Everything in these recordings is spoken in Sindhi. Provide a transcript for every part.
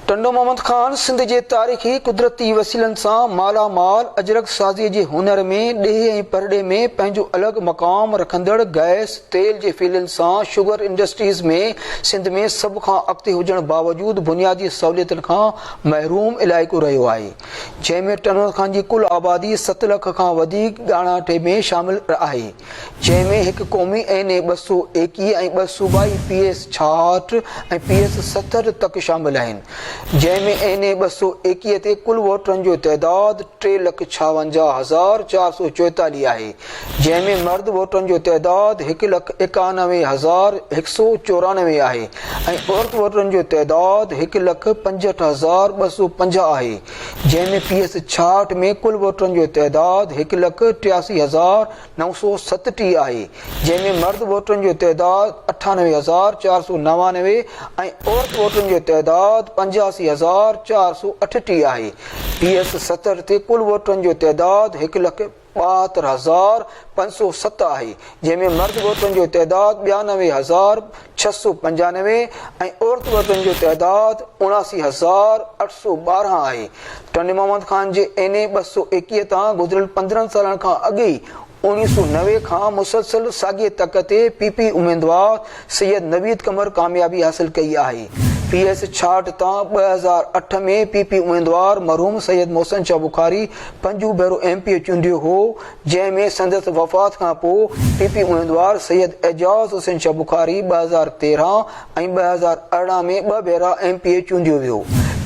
ٽنڊو محمد خان سنڌ جي تاريخي قدرتي وسيلن سان مالا مال اجرڪ سازي جي هنر ۾ ڏيهي ۽ پرڏيهه ۾ پنهنجو الڳ مقام رکندڙ گئس تيل جي فيلڊن سان شگر انڊسٽريز ۾ سنڌ ۾ سڀ کان اڳتي هجڻ باوجود بنيادي سهوليتن کان محروم علائقو رهيو آهي جنهن ۾ ٽنهور خان جي ڪل آبادي ست لک کان وڌيڪ ڳاڻاٽي ۾ شامل آهي، جنهن ۾ هڪ قومي اين اي ٻه سؤ ايڪيهه ۽ ٻه صوبائي پي ايس ڇاهٺ ۽ پي ايس ستهٺ تڪ شامل آهن، جنهن ۾ اين اي ٻه سؤ ايڪيهه تي ڪل ووٽرن جو تعداد ٽي لک ڇاونجاهه هزار چار سؤ چوئيتاليهه آهي. جنهن ۾ مرد ووٽرن جو تعداد هڪ لک ايڪانوي هزار هڪ سؤ چورانوي آهي ۽ عورت ووٽرن جو تعداد هڪ لک پنجهٺ هزار ٻه سؤ پنجاهه آهي، جنهن ۾ پي ايس ڇاهٺ ۾ ڪل ووٽرن جو تعداد هڪ لک ٽياسي هزار نو سؤ ستٽيهه آهي، جنهن ۾ مرد ووٽرن جو تعداد اٺانوي هزار چار سؤ نوانوي ۽ عورت ووٽرن جو تعداد پنجاسي هزار چار سؤ اٺٽيهه آهي، پي ايس ستهٺ تي ڪل ووٽرن جو تعداد هڪ لک ٻاهتر هزار پنج سؤ ست آهي، جنهن ۾ مرد عورتن جو تعداد ٻيانوي هزار ڇهه سؤ پنجانوي ۽ عورت مردن جو تعداد اڻاسي هزار اٺ سؤ ٻارهن آهي. ٽنڊي محمد خان جي اين اي ٻه سؤ ايڪيهه تان گذريل پندرهن سالن کان اڳي ئي اوڻيهه سؤ نوي کان مسلسل ساڳئي تڪ تي پي پي اميدوار سيد نويد قمر ڪاميابي حاصل ڪئي آهي. پي ايس ڇاهٺ تان ٻه هزار اٺ ۾ پي پي اميدوار مرحوم سيد محسن شاهه بخاري پنجون ڀيرو ايم پي اي چونڊيو هو جنهن ۾ سندس وفات کان پوء پي پي اميدوار سيد اعجاز حسين شاهه بخاري ٻه هزار تيرهن ۽ ٻه هزار ارڙهن ۾ ٻه ڀيرا ايم پي اي چونڊيو ويو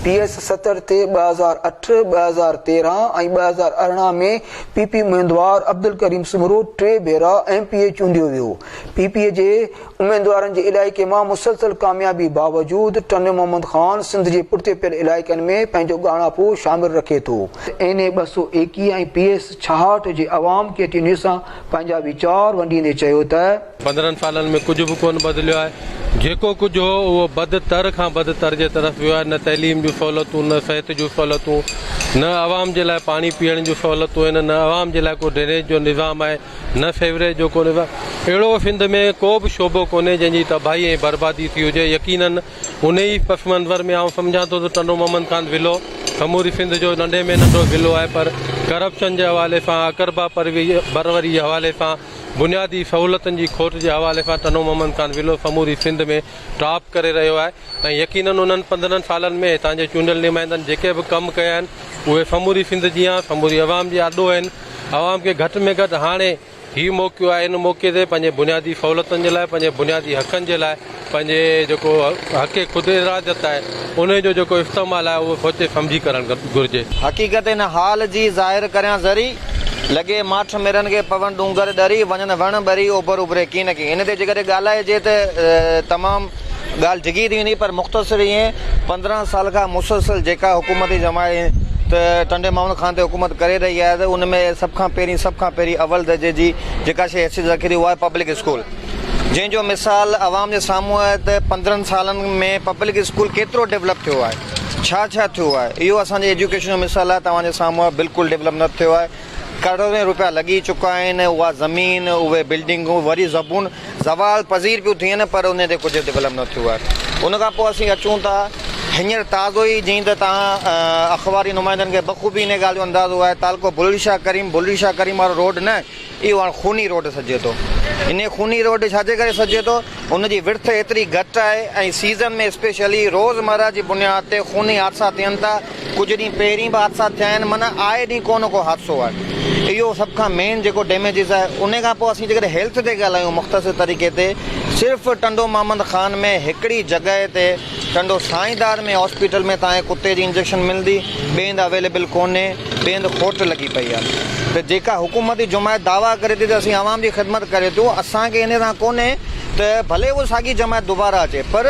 پي ايس ستر تي ٻه هزار اٺ، ٻه هزار تيرهن ۽ ٻه هزار ارڙهن ۾ پي پي اميدوار عبدالڪريم سومرو ٽي ڀيرا ايم پي اي چونڊيو ويو. پي پي جي اميدوارن جي علائقي مان مسلسل ڪاميابي باوجود ٽنڊو محمد خان سنڌ جي پٺتي پيل علائقن ۾ پنهنجو ڳاڻاپو شامل رکي ٿو. اين اي ٻه سؤ ايڪيهه ۽ پي ايس ڇاهٺ جي عوام ڪي ٽي نيوز سان پنهنجا ويچار ونڊيندي چيو ته. پندرهن سالن ۾ ڪجهه به ڪونه بدليو آهي، جيڪو ڪجهه هو اهو بد تر کان بد تر جي طرف ويو آهي، نه تعليم جون سهولتون، نه صحت جون سهولتون، نه عوام جي لاء پاڻي پيئڻ جون سهولتون آهن، نه عوام جي لاء ڪو ڊرينيج جو نظام آهي. نه فيوري جو ڪونهي وا. اهڙو سنڌ ۾ ڪو به شعبو ڪونهي جنهن جي تباهي ۽ بربادي ٿي هجي. يقيناً انهي پس منظر ۾ آئون سمجهان ٿو ته ٽنڊو محمد خان ضلعو سموري سنڌ جو ننڍي ۾ ننڍو ضلعو آهي پر ڪرپشن جي حوالي سان اقربا پروري جي حوالي سان بنيادي سهولتن جي کوٽ جي حوالي سان ٽنڊو محمد خان ضلعو سموري سنڌ ۾ ٽاپ ڪري رهيو آهي ۽ يقيناً انهن پندرهن سالن ۾ هتان جي چونڊيل نمائندن جيڪي به ڪم ڪيا آهن اهي سموري سنڌ جيان سموري عوام جي آڏو آهن. عوام کي گهٽ ۾ گهٽ هاڻي هي موقعو آهي ان موقعي تي پنهنجي بنيادي سهولتن جي لاء پنهنجي بنيادي حقن جي لاء پنهنجي جيڪو حق خود ارادت آهي انهي جو جيڪو استعمال آهي اهو سوچي سمجهي ڪرڻ گهرجي. حقيقت ان حال جي ظاهر ڪريان ذري، لڳي ماٺ مرن کي پون ڏونگر ڏري، وڃن وڻ ٻري، اوڀر اڀري ڪين ڪين. ان تي جيڪڏهن ڳالهائجي ته تمام. ڳالهه ڊگهي ٿي ويندي پر مختصر ائين پندرهن سال کان مسلسل جيڪا حڪومتي جماعت ٽنڊي محمد خان تي حڪومت ڪري رهي آهي ته ان ۾ سڀ کان پهرين سڀ کان پهرين اول درجي جي جيڪا شيء حيثيت رکي ٿي اها آهي پبلڪ اسڪول جنهن جو مثال عوام جي سامهون آهي ته پندرهن سالن ۾ پبلڪ اسڪول ڪيترو ڊولپ ٿيو آهي ڇا ڇا ٿيو آهي اهو اسان جي ايجوڪيشن جو مثال آهي توهان جي سامهون آهي بلڪل ڊولپ نه ٿيو آهي ڪروڙين روپيا لڳي چڪا آهن اها زمين اهي بلڊنگون وري زبون زوال پذير پيون ٿين پر انهي تي ڪجهه ڊولپ نه ٿيو آهي ان کان پوء اسين اچون ٿا هينئر تازو ئي جئين ته توهان اخباري نمائندن کي بخوبي انهي ڳالهه جو اندازو آهي تعلقو بلڙي شاهه ڪريم بلڙي شاهه ڪريم وارو روڊ نه اهو هاڻ خوني روڊ سڏجي ٿو انهي خوني روڊ ڇا جي ڪري سڏجي ٿو ان جي وڙٿ ايتري گهٽ آهي ۽ سيزن ۾ اسپيشلي روز مره جي بنياد تي خوني حادثا ٿين ٿا ڪجهه ڏينهن پهرين به حادثا ٿيا آهن معنيٰ آئي ڏينهن ڪو نه ڪو حادثو آهي اهو سڀ کان مين جيڪو ڊيميجز آهي ان کان پوء اسين جيڪڏهن هيلٿ تي ڳالهايون مختصر طريقي تي صرف ٽنڊو محمد خان ۾ هڪڙي جڳهه تي ٽنڊو سائين دار ۾ هاسپيٽل ۾ تانهي ڪتي جي انجيڪشن ملندي ٻئي هنڌ اويليبل ڪونهي ٻئي هنڌ کوٽ لڳي پئي آهي ته جيڪا حڪومتي جماعت دعويٰ ڪري ٿي ته اسين عوام جي خدمت ڪري ٿو اسان کي ان سان ڪونهي ته ڀلي اها ساڳي جماعت دوباره اچي پر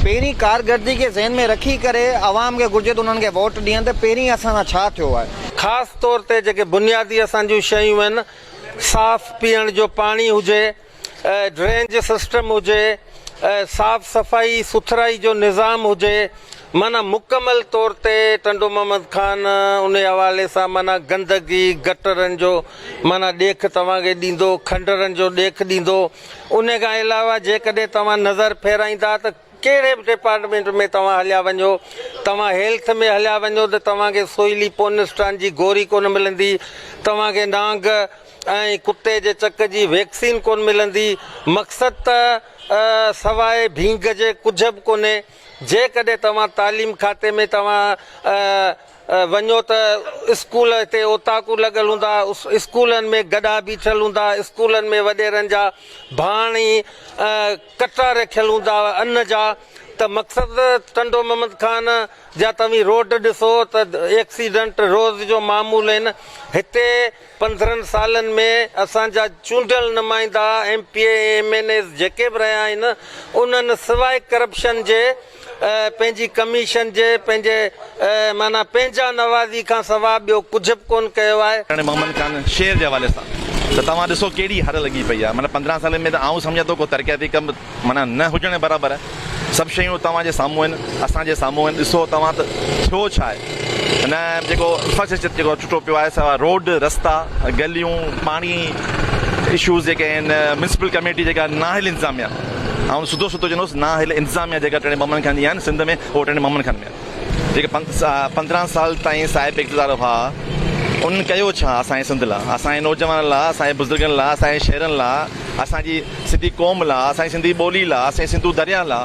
پهرين ڪارگردگي کي ذهن ۾ رکي ڪري عوام کي گهرجي ته انهن کي ووٽ ڏين ته پهرين اسان سان ڇا ٿيو آهي. خاص طور تي جيڪي بنيادي اسان جون شيون آهن صاف پيئڻ جو پاڻي هجي، ڊرينج سسٽم هجي، صاف صفائي سٿرائي جو نظام هجي معنيٰ مڪمل طور تي ٽنڊو محمد خان ان حوالي سان معنيٰ گندگي گٽرن جو معنيٰ ڏيک توهان کي ڏيندو، کنڊرن جو ڏيک ڏيندو. انهيء کان علاوه جيڪڏهن توهان نظر ڦيرائيندا ته ڪهڙي به ڊپارٽمينٽ ۾ توهان هليا وڃو، توهان هيلٿ ۾ هليا وڃو ته توهان کي سوئلي پونسٽان جي گوري ڪونه ملندي، توهان کي نانگ ۽ ڪتي جي چڪ جي ويڪسين ڪونه ملندي، مقصد ته سواء ڀينگ جي ڪجهه به ڪونهي. جيڪڏهن توهان تعليم کاتي ۾ توهان وڃو ته اسڪول هتي اوطاقون لڳل هوندا، اسڪولن ۾ گڏها بيٺل هوندا، اسڪولن ۾ وڏيرن جا ڀاڻ ۽ ڪٽا رکيل هوندا ان جا ته مقصد ٽنڊو محمد خان جا توهين روڊ ڏسو ته ايڪسيڊنٽ روز جو معمول آهن هتي پندرهن سالن ۾ اسان جا چونڊيل نمائندا M P A M N As جيڪي به رهيا آهن انهن سواء ڪرپشن جي پنهنجي ڪميشن جي پنهنجي معنيٰ پنهنجا نوازي کان سوا ٻيو ڪجهه به ڪونه ڪيو آهي. هاڻي محمد خان شير جي حوالي سان ته توهان ڏسو ڪهڙي هر لڳي پئي آهي معنيٰ پندرهن سالن ۾ ته آئون سمجهان ٿو ڪو ترقياتي ڪم معنيٰ نه هجڻ جي برابر آهي سڀ شيون توهان جي سامهون آهن اسان جي سامهون آهن ڏسو توهان ته ٿيو ڇا آهي هن جيڪو انفراسٽرڪچر جيڪو ٽٽو پيو آهي سواء روڊ رستا گليون پاڻي اشوز جيڪي آهن ميونسپل ڪميٽي جيڪا نااهل انتظاميا. آئون سڌو سڌو چوندوس نا هل انتظاميا جيڪا ٽيڻي بمن کي آندي آهن سنڌ ۾ اهو ٽيڻي بمن کي آندي آهي جيڪي پندرهن سال تائين صاحب اقتدار هئا انهن ڪيو ڇا اسان جي سنڌ لا اسان جي نوجوانن لا اسان جي بزرگن لا اسان جي شهرن لا اسان جي سنڌي قوم لا اسان جي سنڌي ٻولي لا اسان جي سنڌو دريا لا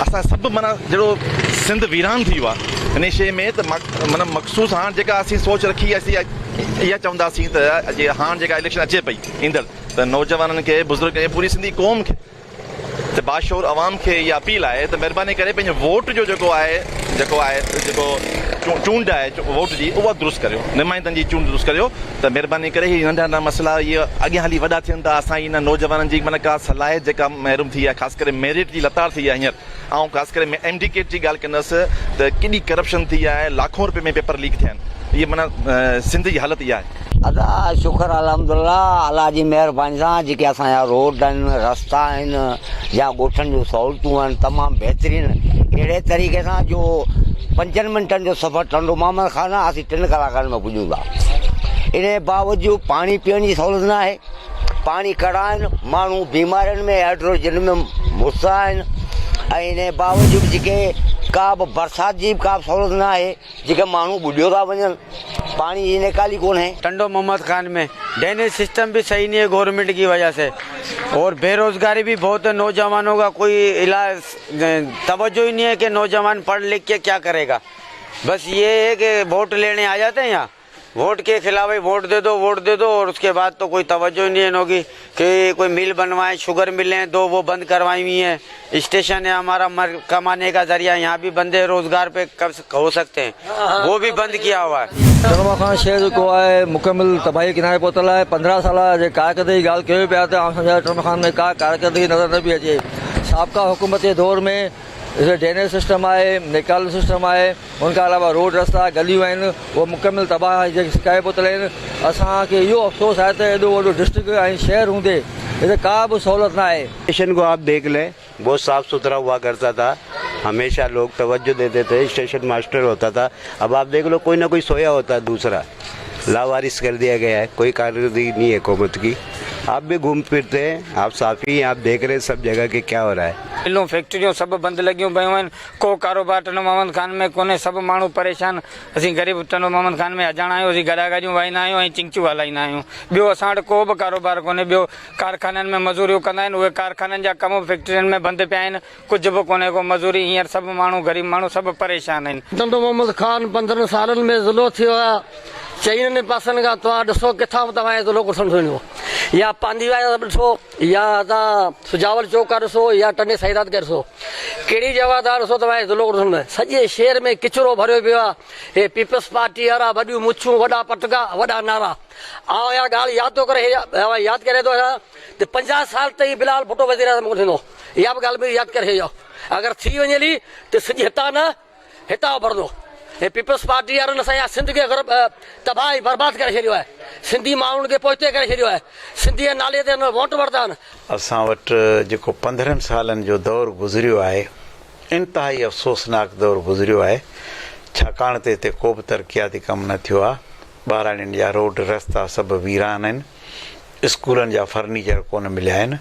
اسان سڀ مانا جهڙو سنڌ ويران ٿي ويو ان شيء ۾ ته مانا مخصوص هاڻ جيڪا اسين سوچ رکي اسين اها چونداسين ته هاڻ جيڪا اليڪشن اچي پئي ايندڙ ته نوجوانن کي، بزرگن کي، پوري سنڌي قوم کي ته باشعور عوام کي اها اپيل آهي ته مهرباني ڪري پنهنجي ووٽ جو جيڪو آهي جيڪو آهي جيڪو چونڊ آهي ووٽ جي اها درست ڪريو نمائندن جي چونڊ درست ڪريو ته مهرباني ڪري هي ننڍا ننڍا مسئلا هي اڳيان هلي وڏا ٿين ٿا اسان هي نوجوانن جي معنيٰ ڪا صلاحيت جيڪا محروم ٿي آهي خاص ڪري ميرٽ جي لتاڙ ٿي آهي هينئر آئون خاص ڪري ايم ڊي ڪيٽ جي ڳالهه ڪندس ته ڪيڏي ڪرپشن ٿي آهي لاکون روپين ۾ پيپر ليڪ ٿيا آهن معنيٰ سنڌ جي حالت اها آهي. ادا شڪر الحمدالله الله جي مهرباني سان جيڪي اسان جا روڊ آهن رستا آهن يا ڳوٺن جون سهولتون آهن تمام بهترين اهڙي طريقي سان جو پنجن منٽن جو سفر ٽنڊو محمد خان آهي اسين ٽن ڪلاڪن ۾ پڄون ٿا ان جي باوجود پاڻي پيئڻ جي سهولت ناهي پاڻي ڪڙا آهن، ماڻهو بيمارين ۾ هائڊروجن ۾ مست آهن ۽ انهيء باوجود جيڪي ڪا به برسات جي ڪا به سهولت نه آهي، جيڪي ماڻهو ٻڏيو ٿا وڃن، پاڻي جي نيڪالي ڪونهي. ٽنڊو محمد خان ۾ ڊينيج سسٽم به صحيح نهي گورنمينٽ ڪي وجه سي اور بيروزگاري به بهت هي نوجوانو ڪا ڪوئي الا توجه هي نهي هي ڪي نوجوان پڙ لک ڪي ڪيا ڪري گا بس يي هي ڪي ووٽ ليڻي آ جاتي هي يهان. ووٽ ڪي خلاف هي ووٽ دي دو ووٽ دي دو اور اس ڪي بعد تو ڪوئي توجه هي نهين هوگي ڪي ڪوئي ميل بنوائين شوگر ميلين هي دو وو بند ڪروائين هوئي هين اسٽيشن هي همارا مر ڪماني ڪا ذريعا يهان بهي بند هي روزگار پي ڪم هو سڪتي هين وو بهي بند ڪيا هوا هي. سنما خان شهر جيڪو آهي مڪمل تباهي جي ڪناري پهتل آهي پندرهن سالا جي ڪارڪردگي جي ڳالهه ڪيو پيا ته آئون سمجهان ٿو سنما خان ۾ ڪا ڪارڪردگي نظر نه پئي اچي سابقا حڪومت جي دور ۾ ڊرينيج سسٽم آهي نيڪالو سسٽم آهي ان کان علاوه روڊ رستا گليون آهن اهي مڪمل تباهه آهي جيڪي سڪائي بوتل آهن اسان کي اهو افسوس آهي ته ايڏو وڏو ڊسٽرڪٽ ۽ شهر هوندي هتي ڪا به سهولت نه آهي. اسٽيشن ڪو آپ ديک لين بهت صاف سٿرا هوا ڪرتا ٿا هميشه لوگ توجه ديتي ٿي اسٽيشن ماسٽر هوتا ٿا اب آپ ديک لو ڪوئي نه ڪوئي سويا هوتا هي دوسرا لاوارث ڪر ديا گيا هي ڪوئي ڪارڪردگي نهي حڪومت ڪي آپ بي گهوم پھرتي هي آپ صافي هي آپ ديک رهي سب جگه ڪي ڪيا هو رها هي ملون فيڪٽريون سڀ بند لڳيون پيون آهن ڪو ڪاروبار ٽنڊو محمد خان ۾ ڪونهي، سڀ ماڻهو پريشان، اسين غريب ٽنڊو محمد خان ۾ اجاڻا آهيون، اسين گڏا گاڏيون وهائيندا آهيون ۽ چنگچو هلائيندا آهيون، ٻيو اسان وٽ ڪو به ڪاروبار ڪونهي، ٻيو ڪارخانن ۾ مزوريون ڪندا آهن، اهي ڪارخانن جا ڪم به فيڪٽرين ۾ بند پيا آهن، ڪجهه به ڪونهي ڪو مزوري، هينئر سڀ ماڻهو غريب ماڻهو سڀ پريشان آهن. ٽنڊو محمد خان پندرهن سالن ۾ ضلعو ٿيو آهي، چئنن ئي پاسن کان توهان ڏسو ڪٿان به توهان کي ضلعو ڪو سمجهه ۾ ايندو يا پانڌي ويا آهيو ته ڏسو. يا اتان سجاول چوڪ کان ڏسو يا ٽنڊي سائينرات کي ڏسو، ڪهڙي جڳهه تان ڏسو توهان کي ضلعو ڏسڻ ۾ سڄي شهر ۾ ڪچرو ڀريو پيو آهي. هي پيپلز پارٽي وارا وڏيون مڇون، وڏا پٽڪا، وڏا نعرا. آئون اها ڳالهه ياد ٿو ڪري ڇڏيان ياد ڪري ٿو ڇڏيان ته پنجاهه سال تائين بلال ڀٽو وزيراعظم ڪونه ٿيندو. اها به ڳالهه ياد ڪري ڇڏيو اگر ٿي وڃي هلي ته سڄي هتان نه هتان اڀرندو هي پيپلز پارٽي وارن اسان جي سنڌ کي غرب تباهه ۽ برباد ڪري ڇڏيو آهي سنڌي ماڻهن کي پوئتي ڪري ڇڏيو آهي سنڌي جي نالي تي هنن ووٽ ورتا آهن. اسان وٽ جيڪو پندرهن سالن جو دور گذريو آهي انتهائي افسوسناڪ دور گذريو آهي ڇاڪاڻ ته هتي ڪو به ترقياتي ڪم نه ٿيو آهي ٻهراڙين جا روڊ رستا سڀ ويران آهن اسڪولن جا فرنيچر ڪونه مليا آهن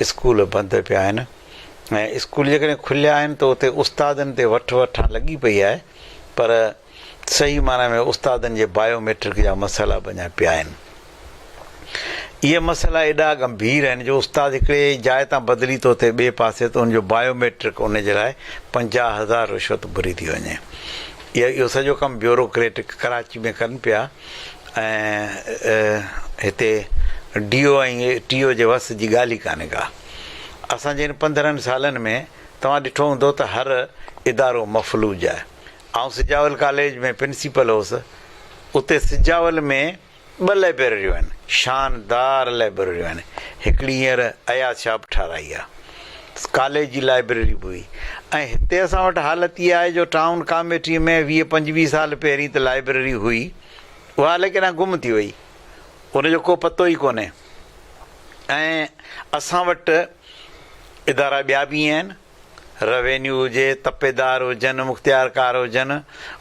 اسڪول بند پيا آهن ۽ اسڪول جيڪڏهن کليا آهن ته اتي استادن تي وٺ وٺان لڳي پئي آهي پر صحيح معنيٰ ۾ استادن جي بايو ميٽرڪ جا مسئلا به اڃا پيا آهن. اهي مسئلا ايڏا ڳنڀير آهن جو استاد هڪڙي جاء تان بدلي ٿو ٿئي ٻئي پاسي ته ان جو بايو ميٽرڪ ان جي لاء پنجاهه هزار رشوت گهري ٿي وڃي. اهو سڄو ڪم بيورو ڪريٽ ڪراچي ۾ ڪن پيا ۽ هتي ڊي او ۽ ٽي او جي وس جي ڳالهه ئي ڪانهي ڪا. اسان جي هن پندرهن سالن ۾ توهان ڏٺو هوندو ته هر ادارو مفلوج آهي. آئون سجاول ڪاليج ۾ پرنسيپل هوس. اتي سجاول ۾ ٻه لئبرريون آهن. شاندار لئبرريون آهن. هڪڙي هينئر اياز شاهه به ٺاهرائي آهي. ڪاليج جي لائبرري به هئي ۽ هتي اسان وٽ حالت اها آهي جو ٽائون ڪاميٽي ۾ ويهه پنجويهه سال پهرين ته لائبرري هئي اها الائي ڪيڏانهن گم ٿي وئي. ان جو ڪو پتو ئي ڪونهي. ائين اسان وٽ ادارا ٻيا به آهن، روينيو هجي، تپيدار هجن، مختيارڪار هجن،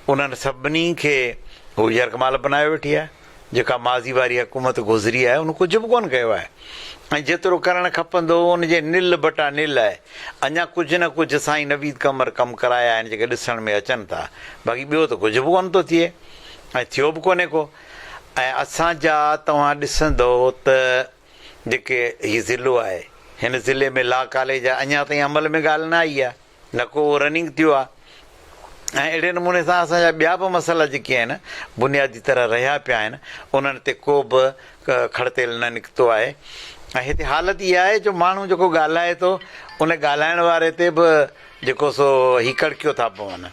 انهن سڀني کي هو يرغمال بنايو ويٺي آهي، جيڪا ماضي واري حڪومت گذري آهي ان ڪجهه به ڪونه ڪيو آهي ۽ جيترو ڪرڻ کپندو هو ان جي نل بٽا نل آهي، اڃا ڪجهه نه ڪجهه سائين نويد قمر ڪم ڪرايا آهن جيڪي ڏسڻ ۾ اچن ٿا، باقي ٻيو ته ڪجهه به ڪونه ٿو ٿئي ۽ ٿيو به ڪونهي ڪو. ۽ اسان جا توهان ڏسندؤ ته جيڪي هي ضلعو آهي هن ضلعي ۾ لا ڪاليج آهي اڃا تائين عمل ۾ ڳالهه نه آئي آهي نه ڪو اهو رننگ ٿيو آهي ۽ اهڙي نموني سان اسان جا ٻيا به مسئلا جيڪي آهن بنيادي طرح رهيا پيا آهن انهن تي ڪو به کڙ تيل نه نڪتو آهي ۽ هتي حالت اها آهي جو ماڻهو جيڪو ڳالهائي ٿو ان ڳالهائڻ واري تي به جيڪو سو هي ڪڙڪيو ٿا پون.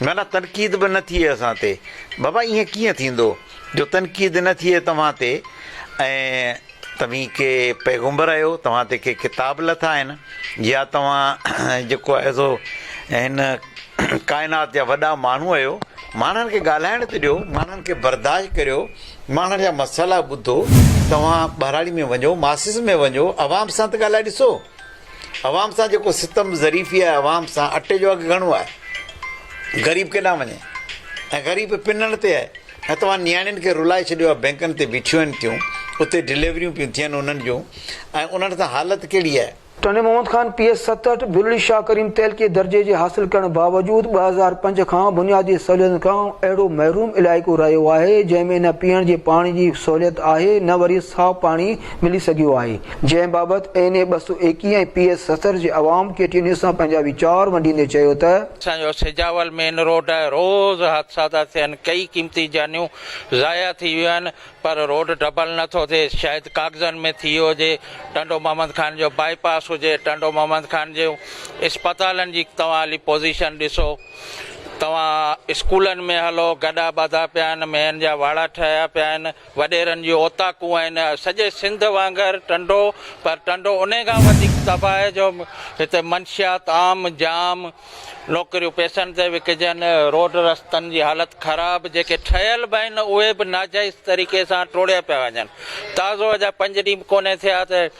معنيٰ تنقيد به نه ٿئي اسان تي. بابا ائين ڪيئن ٿيندو جو تنقيد نه ٿئي توهان تي ۽ توهين ڪي پيغمبر آهيو توهان تي ڪي ڪتاب لٿا آهن يا توهان جيڪو آهي سو هن ڪائنات جا وڏا ماڻهو آهيو ماڻهن کي ڳالهائڻ ته ڏيو ماڻهن کي برداشت ڪريو ماڻهن جا مسئلا ٻڌو توهان ٻهراڙي ۾ وڃو ماسز ۾ وڃو عوام سان ته ڳالهائي ڏسو. عوام سان جيڪو ستم ظريفي آهي عوام سان اٽي جو اگهه گهڻو آهي غريب ڪيڏانهن وڃي ۽ غريب پنڻ تي آهي ۽ توهان نياڻين کي رلائي ڇڏيو آهي بينڪن تي بيٺيون آهن ٿيون اتي ڊليوريون پيون ٿين انهن جون ۽ انهن سان حالت ڪهڙي آهي. ٽنڊي محمد خان پي ايس ستهٺ ڀلڙي شاهه ڪريم تعلقي درجي جي حاصل ڪرڻ باوجود ٻه هزار پنج کان بنيادي سهوليتن کان اهڙو محروم علائقو رهيو آهي جنهن ۾ نه پيئڻ جي پاڻي جي سهوليت آهي نه وري صاف پاڻي ملي سگهيو آهي، جنهن بابت اين اي ٻه سؤ ايڪيهه ۽ پي ايس ستر جي عوام ڪي ٽي نيوز سان پنهنجا ويچار ونڊيندي چيو ته. اسان جو سجاول مين روڊ آهي، روز حادثا ٿا ٿين، ڪيئي قيمتي جانيون ضايع ٿي ويون آهن، پر روڊ ڊبل نه ٿو ٿئي، شايد ڪاغذن ۾ ٿي ويو هجي، ٽنڊو محمد خان جو بائي پاس هجي، ٽنڊو محمد خان جي اسپتالن جي توهان هلي پوزيشن ڏسو، توهان اسڪولن ۾ هلو، گڏا ٻڌا پيا آهن، مين جا واڙا ٺهيا پيا آهن، وڏيرن جون اوطاقون آهن سڄي سنڌ وانگر ٽنڊو پر ٽنڊو انهي کان وڌيڪ تباهي جو هتي منشيات عام جام نوڪريون پئسن تي وڪجن روڊ رستن جي حالت خراب جيڪي ٺهيل به آهن اهي به ناجائز طريقي سان ٽوڙيا پيا وڃن تازو اجا پنج ڏينهن به ڪونهي ٿيا ته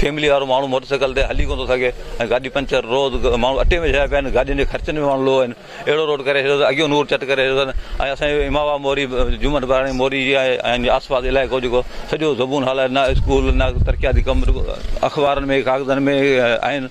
فيملي وارو ماڻهو موٽر سائيڪل تي هلي ڪونه ٿو سگهي ۽ گاڏي پنچر روز ماڻهو اٽي ۾ ڇڏايا پيا آهن گاڏين جي خرچن به ماڻهو لو آهن اهڙو روڊ ڪري ڇڏيو اٿن اڳيئي نور چٽ ڪري ڇڏيو اٿن ۽ اسان جو امام آباد موري جومن ٻهراڙي موري جي آهي ۽ آس پاس علائقو جيڪو سڄو زبون حال آهي نه اسڪول نه ترقياتي ڪم اخبارن ۾ ڪاغذن ۾ آهن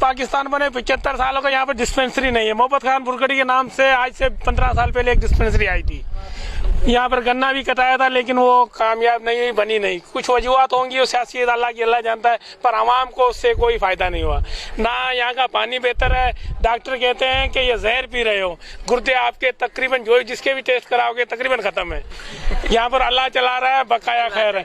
پاڪستان ۾ پچهتر سال هو گئي يهان پي ڊسپينسري نهي هي محبت خان برگڙي ڪي نام سي آج سي پندرهن سال پهلي هڪ ڊسپينسري آئي ٿي يهان پر گنا بي ڪٽايا ٿا ليڪن هو ڪامياب نهي هئي بني نهي ڪجهه وجوهات هونگي هو سياسي الله ڪي الله جانتا هي پر عوام ڪو اس سي ڪوئي فائده نهي هوا نه يهان ڪا پاني بهتر هي ڊاڪٽر ڪهتي هي ڪي يه زهر پي رهي هو گردي آپ ڪي تقريبن جوئي جس ڪي بي ٽيسٽ ڪراؤ گي تقريبن ختم هي يهان پر الله چلا رها هي بقايا خير هي.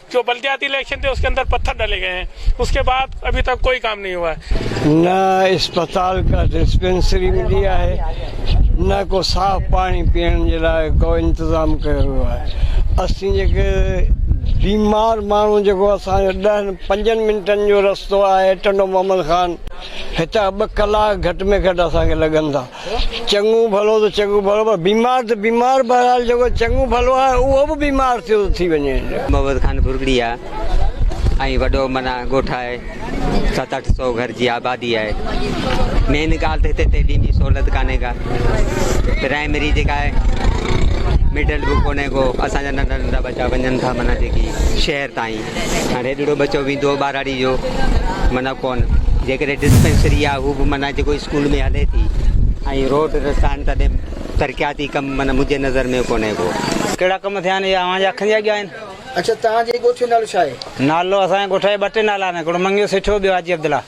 جو بلدياتي اليڪشن تي اس ڪي اندر پٿر ڊلي گئي هين اس ڪي بعد ابهي تڪ ڪوئي ڪام نهي هوا هي. نه اسپتال ڪا ڊسپينسري ملي آهي نه ڪو صاف پاڻي پيئڻ جي لاء ڪو انتظام ڪيو ويو آهي اسين جيڪي بيمار ماڻهو جيڪو اسان جو ڏهن پنجن منٽن جو رستو آهي ٽنڊو محمد خان هتان ٻه ڪلاڪ گهٽ ۾ گهٽ اسان کي لڳندا چڱو ڀلو ته چڱو ڀلو پر بيمار ته بيمار بهرحال جيڪو چڱو ڀلو آهي اهو به بيمار ٿيو ٿي وڃي. محمد خان ڀرڳڙي آ ۽ وڏو معنيٰ ڳوٺ آهي ست اٺ سو گهر جي آبادي آهي مين ڳالهه ته هتي تعليم جي سهولت ڪانهي ڪا پرائمري جيڪا آهي مڊل به ڪونهي ڪو اسان جا ننڍا ننڍا ٻچا وڃن ٿا معنيٰ جيڪي شهر تائين هاڻي هيڏڙو ٻچو ويندو هو ٻهراڙي جو معنيٰ ڪونه جيڪڏهن ڊسپينسري آهي هو به معنيٰ جيڪو اسڪول ۾ هلي ٿي ۽ روڊ رستا آهن تڏهن ترقياتي ڪم معنيٰ منهنجي نظر ۾ ڪونه ڪو. ڪهڙا ڪم ٿيا آهن اها اوهان جي اکين جي اڳيان آهن. اڇا توهان جي ڳوٺ جو نالو ڇا آهي؟ نالو اسان جي ڳوٺ جا ٻه ٽي نالا آهن هڪڙو منگيو سٺيو ٻيو حاجي عبدالله.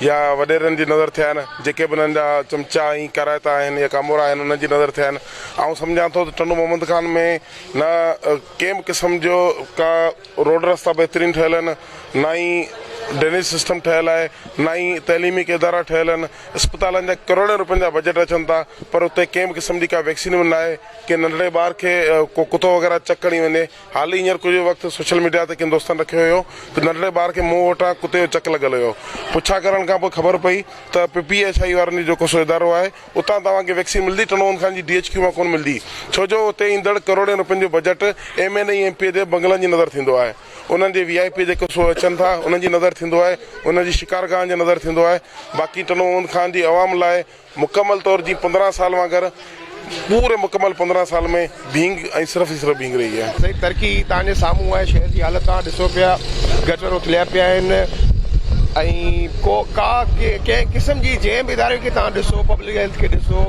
يا وڏيرن جي نظر ٿيائين، جيڪي به انهن جا چمچا ۽ ڪارائتا آهن يا ڪامورا آهن، انهن جي نظر ٿيائين. آئون سمجهان ٿو ته ٽنڊو محمد خان ۾ نه ڪنهن به قسم جو ڪا روڊ رستا بهترين ٺهيل آهن، نه ئي ڊرينيج سسٽم ٺهيل آهي، نه ئي تعليمي ڪي ادارا ٺهيل آهن. اسپتالن جا ڪروڙين روپين جا بجيٽ اچن ٿا، پر اتي ڪنهن به قسم جي ڪا ويڪسين به ناهي، ڪي ننڍڙي ٻار کي ڪو ڪتو وغيره چڪ هڻي وڃي، حال ئي هينئر ڪجهه وقت سوشل ميڊيا تي ڪن دوستن رکيو هيو ته ننڍڙي ٻار کي مون وٽان ڪتي جو چڪ لڳل هيو. پڇا ڪرڻ کان پوء خبر پئي ته پي پي ايڇ آء وارن جو جيڪو سو ادارو آهي اتان توهان کي ويڪسين ملندي ٽنون خان جي ڊي ايڇ ڪيو مان ڪونه ملندي ڇو جو اتي ايندڙ ڪروڙين روپين جو budget M N A M P A جي بنگلن جي نظر ٿيندو آهي انهن جي وي آء پي جيڪو سو اچن ٿا انهن جي نظر ٿيندو آهي انهن جي شڪارگاهن جي نظر ٿيندو آهي باقي ٽنون خان جي عوام لاء مڪمل طور جي پندرهن سال وانگر پوري مڪمل پندرهن سال ۾ ڀينگ ۽ صرف ئي صرف ڀينگ رهي آهي. سائين ترڪي توهان جي سامهون آهي شهر جي حالت توهان ڏسو پيا گٽر اٿليا پيا آهن ۽ ڪو ڪا ڪنهن قسم جي جنهن به اداري کي توهان ڏسو پبلڪ هيلٿ کي ڏسو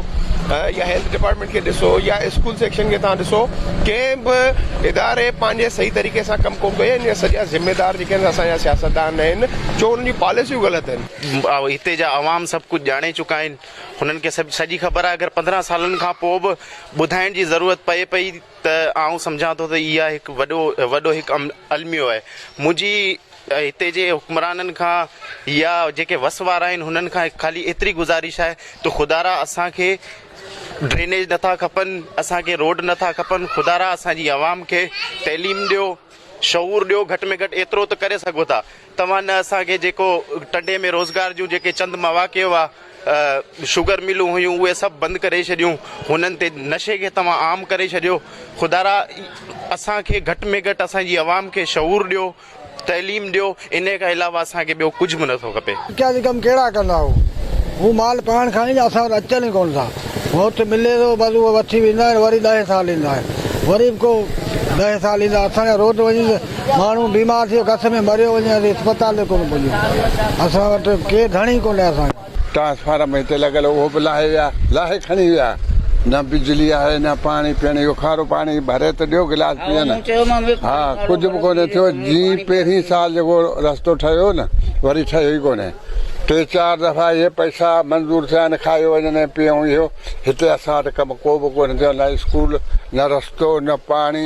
يا هيلٿ ڊپارٽمينٽ کي ڏسو يا اسڪول سيڪشن کي توهان ڏسو ڪنهن به اداري پنهنجي صحيح طريقي سان ڪم ڪون ڪيو آهي ان جا سڄا ذميدار جيڪي آهن اسان جا سياستدان آهن ڇو انهن جون پاليسيون غلط آهن. هتي جا عوام سڀ ڪجهه ڄاڻي چڪا آهن. هنن کي سڄي خبر آهي. اگر پندرهن سالن کان پوء به ٻڌائڻ جي ضرورت پئي پئي ته آئون سمجهان ٿو ته اها هڪ وڏو وڏو هڪ الميو آهي. منهنجي هتي جي حڪمرانن کان يا جيڪي وس وارا آهن هنن کان خالي ايتري گذارش آهي ته خدارا اسان کي ڊرينيج نٿا کپن، اسان کي روڊ نٿا کپن، خدارا اسان جي عوام کي تعليم ڏيو، شعور ڏيو، گهٽ ۾ گهٽ ايترو ته ڪري سگهو ٿا. توهان نه اسان کي جيڪو ٽنڊي ۾ روزگار جون جيڪي چند مواقع هئا، شگر ملون هيون اهي سڀ بند ڪري ڇڏيون، هنن تي نشي کي توهان عام ڪري ڇڏيو، خدارا اسان کي گهٽ ۾ گهٽ اسان جي عوام کي شعور ڏيو، تعليم ڏيو، انهي کان علاوه اسان کي ٻيو ڪجهه به نٿو کپي. اچا جي ڪم ڪهڙا ڪندا هو هو مال پاڻ کڻي جا اسان وٽ اچن ئي ڪونه ٿا موت ملي ٿو بس اهو وٺي ويندا آهن وري ڏهين سال ايندا آهن وري به ڪو ڏهين سال ايندا اسان جا روڊ وڃي ماڻهو بيمار ٿيو گس ۾ مريو وڃي اسين اسپتال به ڪونه پڄيون اسان وٽ ڪير ڌڻي ئي ڪونهي اسان کي. ٽرانسفارم هتي لڳل هو اهو به لاهي ويا لاهي کڻي ويا نه بجلي آهي نه پاڻي پيڻ جو کارو پاڻي ڀري ته ڏيو گلاس پيئن ها ڪجهه به ڪونهي ٿيو جي پهرين سال جيڪو رستو ٺهيو هو نه وري ٺهيو ئي ڪونهي ٽي چار دفعا اهي پئسا منظور ٿيا آهن کايو وڃن ۽ پيئون اهو هتي اسان وٽ ڪم ڪو به ڪونهي ٿيو نه اسڪول نه رستو نه پاڻي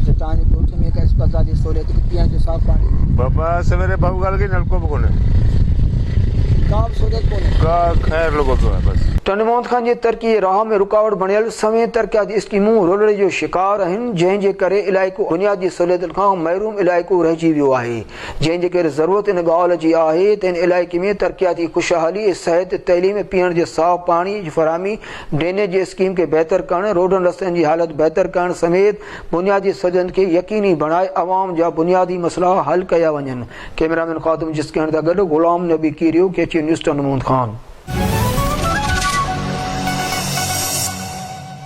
اچا توهان جي ڳوٺ ۾ ڪا اسپتال جي سهوليت ڪي پيئڻ جو صاف پاڻي. بابا سويري بهو ڳالهه ڪئي نلڪو به ڪونهي. ڪا به سهوليت ڪونهي. ڪا خير لڳو پيو آهي بس. ٽنڊو محمد خان جي ترقي جي راهه ۾ رڪاوٽ بڻيل سوين ترقياتي اسڪيمون رولڙي جو شڪار آهن جنهن جي ڪري علائقو بنيادي سهوليتن کان محروم علائقو رهجي ويو آهي جنهن جي ڪري ضرورت ان ڳالهه جي آهي ته ان علائقي ۾ ترقياتي خوشحالي صحت تعليم پيئڻ جي صاف پاڻي جي فراهمي ڊرينيج جي اسڪيم کي بهتر ڪرڻ، روڊن رستن جي حالت بهتر ڪرڻ سميت بنيادي سڌن کي يقيني بڻائي عوام جا بنيادي مسئلا حل ڪيا وڃن، ڪئميرامين خادم جسڪياڻي سان گڏ غلام نبي ڪيريو، ڪيچين نيوز ٽنڊو محمد خان.